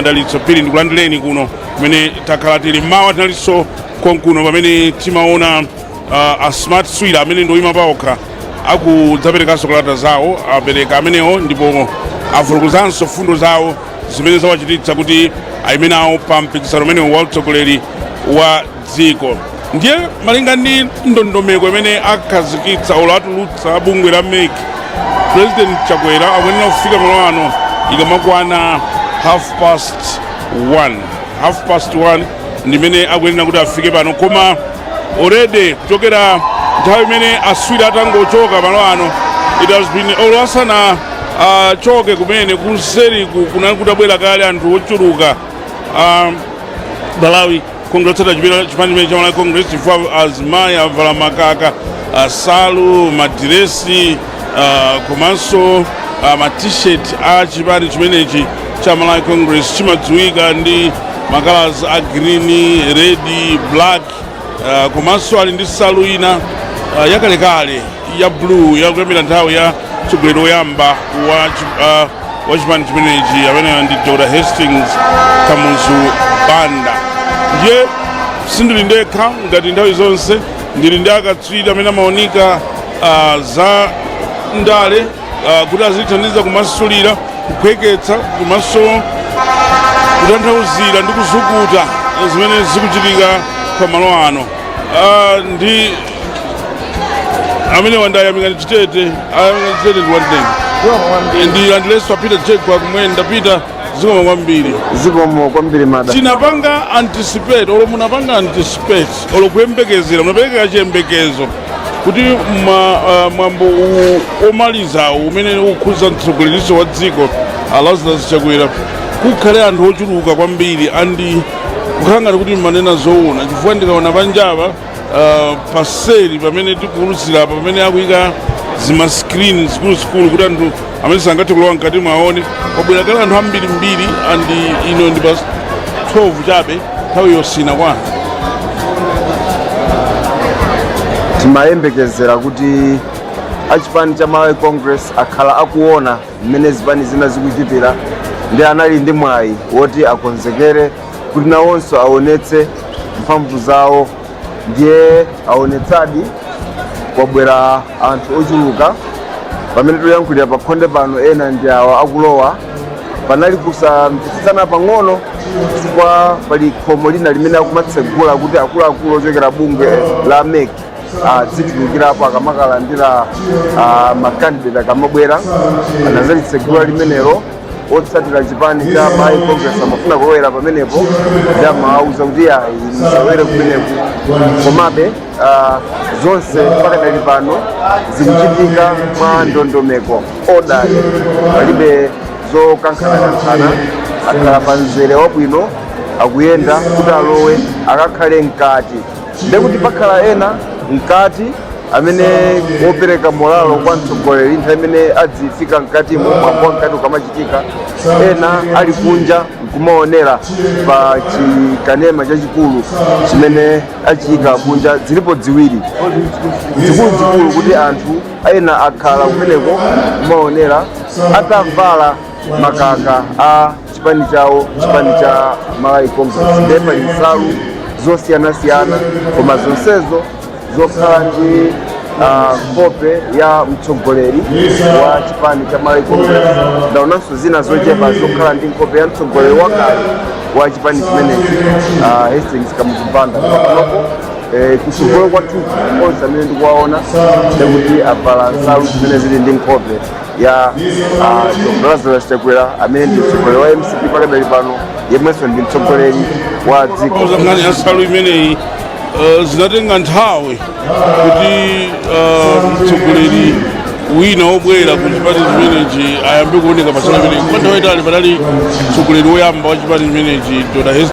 madalitso phiri ndikulandileni kuno kumene takhala tili mmawa tinalinso konkuno pamene timaona uh, a smart swira amene ndi oyima paokha akudzaperekanso kalata zawo apereka amenewo ndipo afulukuzanso fundo zawo zimene zawachititsa kuti ayime nawo pa mpikisano umenewu wa utsogoleri wa dziko ndiye malinga ndi ndondomeko imene akhazikitsa olo atulutsa bungwe la mec president chakwera akuyenera kufika malo ano ikamakwana half past 1 half past 1 ndimene akuyenera kuti afike pano koma already kuchokera nthawi imene aswira atangochoka malo ano it has been olo asanachoke kumene kuseri kunali kutabwera kale anthu ochuluka a malawi congress otsata chipani chimene cha malawi congress chifukwa azimayi avala makaka asalu madiresi ah, komanso ah, matisheti a chipani chimenechi cha malawi congress chimadziwika ndi makalasi a green red black ah, komanso ali ndi salu ina ah, yakalekale ya blue yakuyambira nthawi ya mtsogoleri woyamba wa chi- ah, wa chipani chimenechi ameneyo ndi dr hastings kamuzu banda ndiye sindili ndekha ngati nthawi zonse ndili ndi akatswiri amene amaunika ah, za ndale ah, kuti azitithandiza kumasulira kuphweketsa komanso kutanthauzira ndi kuzukuta zimene zikuchitika pa malo ano Ah, ndi amene ndi ayamikani chitete ayamikani chitete ndikulandileni ndilandileninso a peter chitete kwa kumene ndapita zikomo kwambiri zikomo kwambiri mada tinapanga anticipate olo munapanga anticipate olo kuyembekezera munapereka chiyembekezo kuti ma- ah, mwambo uwu omalizawu umene ukukhudza mtsogoleriso wa dziko alazarus chakwera kukhale anthu ochuluka kwambiri andi kukhala ngati kuti mumanena zoona chifukwa ndikaona panjapa uh, paseli pamene tikuwulutsira apa pamene akuyika zimaskrini zikuluzikulu kuti anthu amene sangathe kulowa mkatimu aone kwabwera kale anthu ambirimbiri andi ino ndi past 12 chabe nthawi yosiyana kwa anthu timayembekezera kuti achipani cha malawi congress akhala akuona mmene zipani zina zikuchitira ndiye anali ndi mwayi woti akonzekere kuti nawonso aonetse mphamvu zawo ndiye aonetsadi kwabwera anthu ochuluka pamene tikuyankhulira pa khonde pano ena ndi awa akulowa panali kusamvetsetsana pang'ono chifukwa pali khomo lina limene akumatsegula kuti akuluakulu ochokera bungwe la mec adzitulukirapo akamakalandira ah, makandidate akamabwera anadzalitsegula limenelo otsatira chipani cha malawi congress amafuna kulowera pamenepo ndi amawauza kuti ayi musalowere kumeneku komabe ah, zonse pakadali pano zikuchitika mwa ndondomeko odali palibe zokankhanakankhana akhala pa mzere wabwino akuyenda kuti alowe akakhale mkati ndekuti pakhala ena mkati amene wopereka molalo kwa mtsogoleri nthawi imene adzifika mkatimo mwambo mkati ukamachitika ena ali kunja nkumaonera pa chikanema chachikulu chimene achiyika kunja zilipo ziwiri zikuluzikulu kuti anthu ena akhala kumeneko kumaonera atavala makaka a chipani chawo chipani cha malawi congress ndiye pali nsalu zosiyanasiyana koma zonsezo zokhala ndi ah, nkhope ya mtsogoleri wa chipani cha malawi congress ndaonanso zina zochepa zokhala ndi nkhope ya mtsogoleri wakale wa chipani chimenechi ah, hastings kamuzu banda panopo eh, kutsogolo kwathu onse amene ndikuwaona ndikuti avala nsalu zimene zili ndi nkhope ya ah, Dr. Lazarus Chakwera amene ndi mtsogoleri wa mcp pakadali pano yemwenso ndi mtsogoleri wa dziko pauza nkhani ya nsalu imeneyi eh, zinatenga nthawi kuti eh, mtsogoleri wina wobwera ku chipani chimenechi ayambe kuoneka pa nsalu imeneyi kwa nthawi yaitali panali mtsogoleri woyamba wa chipani chimenechi dr Hess-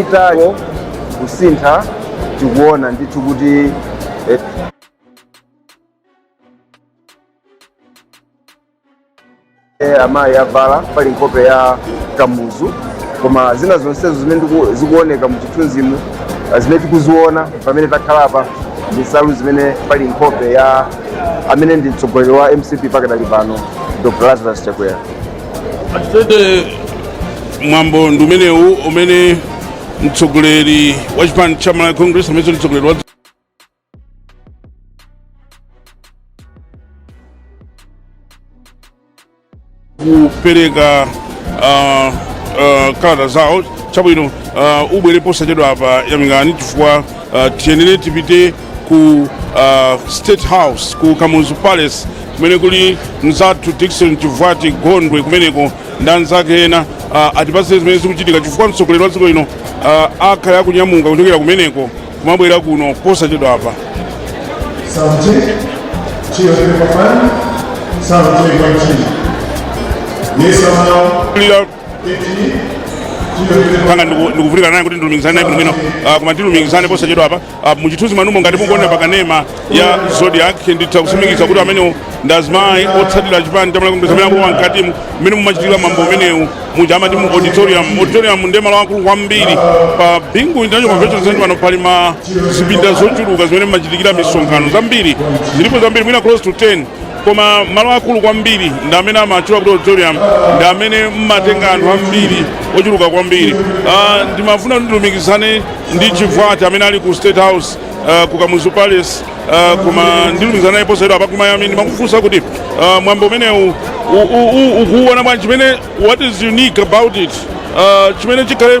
itayo kusintha tikuona ndithu kuti eh, eh, amayi avala pali nkhope ya kamuzu koma zina zonsezo zimene ndiku- zikuoneka mu chithunzimu eh, zimene tikuziona pamene takhala apa ndi nsalu zimene pali nkhope ya amene ndi mtsogoleri wa mcp pakadali pano dr lazarus chakwera Atitete mwambo ndi umenewu umene mtsogoleri wa chipani cha Malawi Congress amenenso ndi mtsogoleri wa kupereka ah, ah, kalata zawo chabwino ah, ubwere posachedwa apa yamikani chifukwa ah, tiyenera tipite ku uh, state house ku kamuzu palace kumene kuli mzathu dickson chivwati gondwe kumeneko ndi anzake ena uh, atipatse zimene zikuchitika chifukwa mtsogoleri wa dziko lino uh, akhala akunyamuka kuchokera kumeneko kumabwera kuno posachedwa apa panga ndikuvutika naye kuti ndilumikizane naye bwinobwino ah, koma ndilumikizana naye posachedwa apa ah, muchithunzi mwanumo ngati mukuonera pakanema ya zodiak nditha kutsimikiza kuti amenewo ndi azimayi otsatira chipani chimene akulowa mkatimu mmene mumachitikira mwambo umenewu muja amati mu auditorium auditorium ndi malo akulu kwambiri pa bingu international convention center pano pali ma zipinda zochuluka zimene mumachitikira misonkhano zambiri zilipo zambiri mwina close to 10 koma malo akulu kwambiri ndi amene amatchula kuti auditorium ndi amene mmatenga anthu ambiri ochuluka kwambiri Ah, ndimafuna kuti ndilumikizane ndi chivwati amene ali ku state house ah, ku kamuzu palace ah, koma ndilumikizana naye posachedwa apa kumayambi ndimakufunsa kuti ah, mwambo umenewu u- u- u- ukuwuona bwanji chimene what is unique about it Ah, chimene chikhale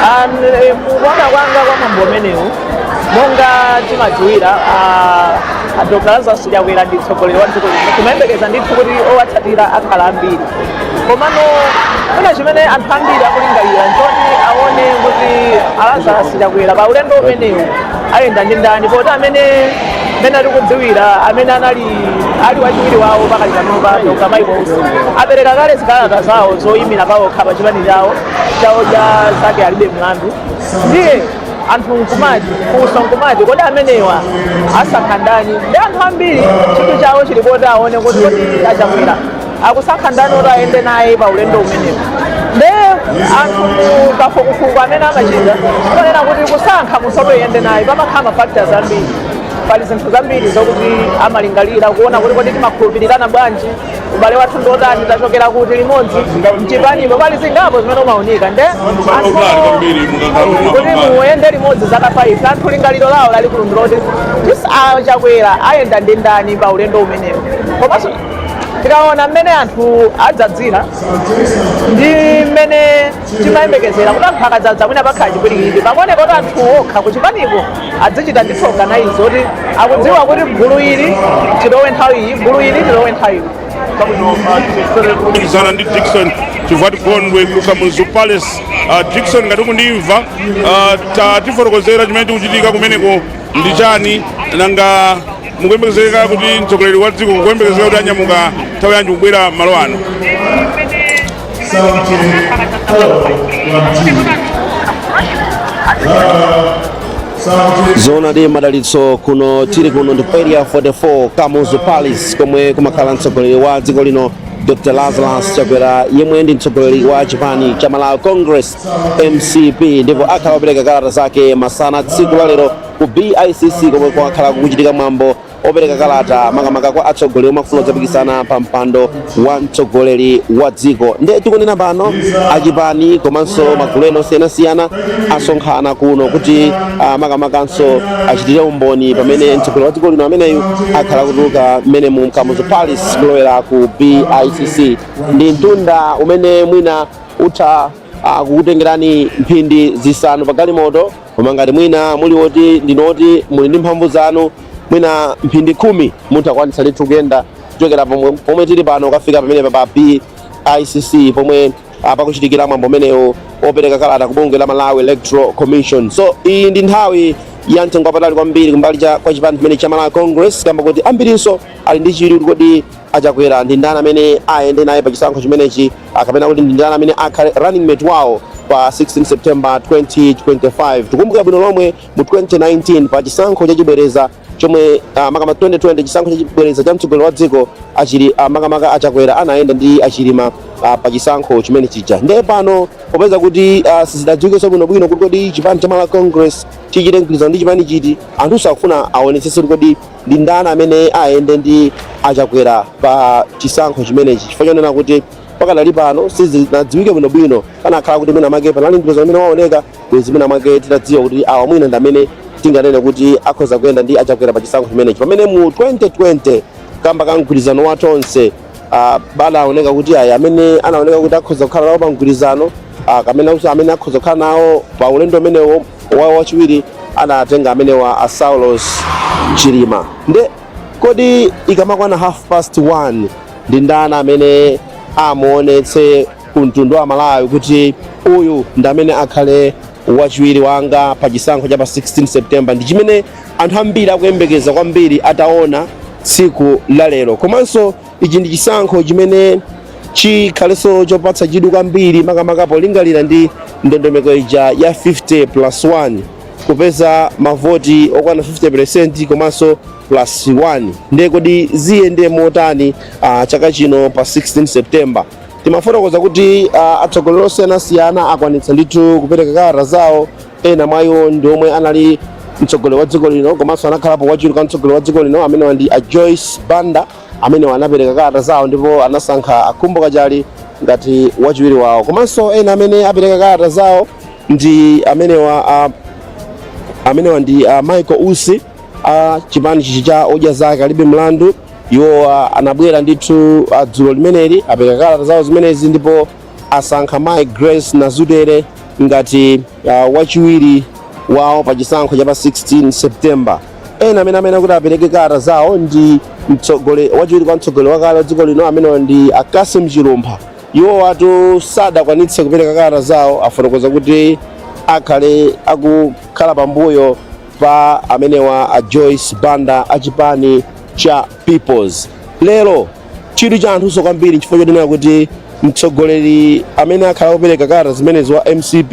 kuona kwanga kwa mwambo umenewu monga tikudziwira a dr lazarus chakwera ndi mtsogoleri wa dziko lino timayembekeza ndithu kuti owatsatira akhala ambiri komano china chimene anthu ambiri akulingalira nchoti aone kuti a lazarus chakwera pa ulendo umenewu ayenda ndi ndani poti amene mmene tikudziwira amene anali ali wachiwiri wawo pakali panopa dr michael usi apereka kale zikalata zawo zoyimira pawokha pa chipani chawo cha odya zake alibe mlandu ndiye anthu nkumati funso nkumati kodi amenewa asankha ndani ndi anthu ambiri chidwi chawo chili poti aone kuti kodi a chakwera akusankha ndani oti ayende naye pa ulendo umenewu nde anthu kafukufuku amene amachita ponena kuti kusankha munthu oti ayende naye pamakhala mafactors ambiri pali zinthu zambiri zokuti amalingalira kuona kuti kodi timakhulupirirana bwanji ubale wathu ndiotani tachokera kuti limodzi mchipanipo pali zingapo zimene umaunika nde kuti muyende limodzi zaka 5 anthu lingaliro lawo lalikulu ndiloti kodi a chakwera ayenda ndi ndani pa ulendo umenewu komanso tikaona mmene anthu adzadzira ndi mmene timayembekezera kuti anthu akadzadza mwina pakhala chipwirikiti pakuoneka kuti anthu okha kuchipaniko adzichita ndithu organize kuti akudziwa kuti gulu ili tilowe nthawi iyi gulu ili tilowe nthawi iyi kulumikizana ndi dickson chivwati gondwe ku kamuzu palace Ah, dickson ngati ukundimva ah, ta- tifotokozere chimene chikuchitika kumeneko ndi chani nanga mukuyembekezeka kuti mtsogoleri wa dziko kuyembekezeka kuti anyamuka nthawi yanji kubwera malo ano zoona di madalitso kuno tili kuno ndi ku area 44 kamuzu palace komwe kumakhala mtsogoleri wa dziko lino dr lazarus chakwera yemwe ndi mtsogoleri wa chipani cha malawi congress mcp ndipo akhala akupereka kalata zake masana tsiku la lero ku bicc komwe kwakhala kukuchitika mwambo opereka kalata makamaka kwa atsogoleri omwe afuna kudzapikisana pa mpando wa mtsogoleri wa dziko nde tikunena pano achipani komanso magulu ena osiyanasiyana asonkhana kuno kuti ah, makamakanso achitire umboni pamene mtsogoleri wa dziko lino ameneyu akhala kutuluka mmenemu m'kamuzu palace kulowera ku bicc ndi mtunda umene mwina utha ah, kukutengerani mphindi zisanu pa galimoto koma ngati mwina muli woti ndinu woti muli ndi mphamvu zanu mwina mphindi khumi mutha kukwanitsa ndithu kuyenda kuchokera pomwe, pomwe tili pano kukafika pamene pa BICC pomwe ah, pakuchitikira mwambo umenewo opereka kalata ku bungwe la Malawi Electoral Commission so iyi ndi nthawi ya mtengo wapatali kwambiri kumbali cha kwa chipani chimene cha Malawi Congress kamba koti ambirinso ali ndi chidwi kuti kodi achakwera ndi ndani amene ayende naye pa chisankho chimenechi kapena kuti ndi ndani amene akhale running mate wawo pa 16 september 2025 tikumbuka bwino lomwe mu 2019 pa chisankho chachibwereza chomwe ah, makama 2020 chisankho chachibwereza cha mtsogoleri wa dziko achili ah, makamaka achakwera anayenda ndi achilima ah, pa chisankho chimene chija ndiye pano popeza kuti ah, sizidadziwikenso bwinobwino kuti kodi chipani cha malawi congress chichite mgwirizano ndi chipani chiti anthu akufuna aonetsetse kuti kodi ndi ndani amene ayende ndi achakwera pa chisankho chimenechi chifukwa chonena kuti pakadali pano sizinadziwike bwinobwino kunakakhala kuti mwina mwake panali ndipeza amene waoneka bwezi mwina mwake titadziwa kuti awa mwina ndi amene tinganene kuti akhoza kuyenda ndi achakwera pa chisankho chimenechi pamene mu 2020 kamba ka mgwirizano wa tonse ah, panaoneka kuti ayi amene anaoneka kuti akhoza kukhala nawo pa mgwirizano ah, kamene akuti amene akhoza kukhala nawo pa ulendo umenewo wawo wachiwiri anatenga amenewa a Saulos Chilima nde kodi ikamakwana half past one ndi ndani amene amuonetse ku mtundu wa Malawi kuti uyu ndi amene akhale wachiwiri wanga pa chisankho cha pa 16 September ndi chimene anthu ambiri akuyembekeza kwambiri ataone tsiku la lero komanso ichi ndi chisankho chimene chikhalenso chopatsa chidwi kwambiri makamaka polingalira ndi ndondomeko ija ya 50 plus 1 kupeza mavoti okwana 50% komanso plus 1 ndiye kodi ziyende motani uh, chaka chino pa 16 september timafotokoza kuti uh, atsogoleri osiyanasiyana akwanitsa ndithu kupereka kalata zawo ena mwa iwo ndi omwe anali mtsogoleri wa dziko lino komanso anakhalapo wachiwiri kwa mtsogoleri wa dziko lino amene ndi a joyce banda amenewa anapereka kalata zawo ndipo anasankha a khumbo kachali ngati wachiwiri wawo komanso ena amene apereka kalata zawo ndi amenewa a, amenewa ndi a michael usi a chipani chichi cha odya zake alibe mlandu iwo a, anabwera ndithu a, dzulo limeneli apereka kalata zawo zimenezi ndipo asankha mai grace nazitwere ngati a, wachiwiri wawo pa chisankho cha pa 16 september Ena amene amene kuti apereke kalata zawo ndi mtsogole wachiwiri kwa mtsogoleri wakale wa dziko lino amenewa ndi a Cassim Chilumpha. Iwowatu sadakwanitse kupereka kalata zawo afotokoza kuti akhale akukhala pambuyo pa amenewa a Joyce Banda a chipani cha Peoples. Lero chidwi cha anthunso kwambiri chifukwa chotinena kuti mtsogoleri amene akhale akupereka kalata zimenezi wa MCP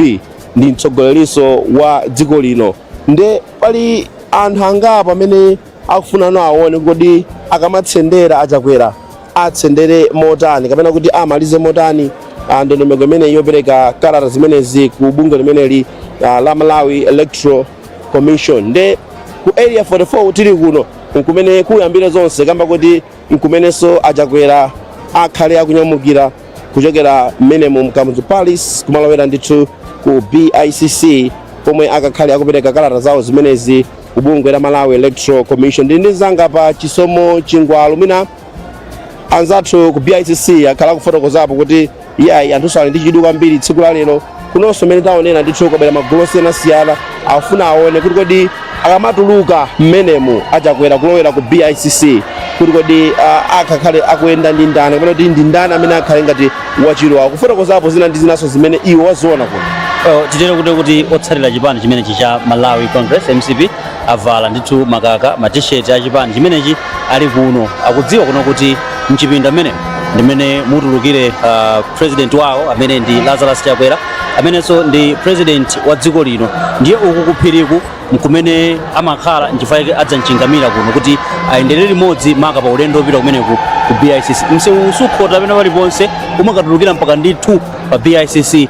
ndi mtsogolerinso wa dziko lino nde pali anthu angapo amene akufunano aone kodi akamatsendera achakwera atsendere motani kapena kuti amalize motani ah, ndondomeko imeneyi yopereka kalata zimenezi ku bungwe limeneli ah, la malawi electoral commission nde ku area 44 tili kuno nkumene kuyambire zonse kamba kuti nkumenenso a chakwera akhale akunyamukira kuchokera mmenemu mkamuzu palace kumalowera ndithu ku bicc komwe akakhale akupereka kalata zawo zimenezi ku bungwe la malawi electoral commission ndi ndi zangapo chisomo chingwalu mwina anzathu ku bicc akhale akufotokozapo kuti Iyayi anthuso ali ndi chidwi kwambiri tsiku la lero kunonso mmene taonera ndithu kwabwera magulu osiyanasiyana akufuna aone kuti kodi akamatuluka mmenemu achakwera kulowera ku BICC kuti kodi ah, akakhale akuyenda ndi ndani kapena kuti ndi ndani amene akhale ngati wachiwiri wawo kufotokozapo zina ndi zinanso zimene iwo waziona kuno Eh, titero kuti kuti otsatira chipani chimenechi cha malawi congress mcp avala ndithu makaka matisheti a chipani chimenechi ali kuno akudziwa kuno kuti mchipinda mmenemu ndi mmene mutulukire uh, president wawo amene ndi Lazarus Chakwera amenenso ndi president wa dziko lino ndiye uku kuphiriku mkumene amakhala nchifukwa yake adzamchingamira kuno kuti ayenderere limodzi maka pa ulendo wopita kumeneku ku BICC msewu usukhota pena paliponse umakatulukira mpaka ndithu pa BICC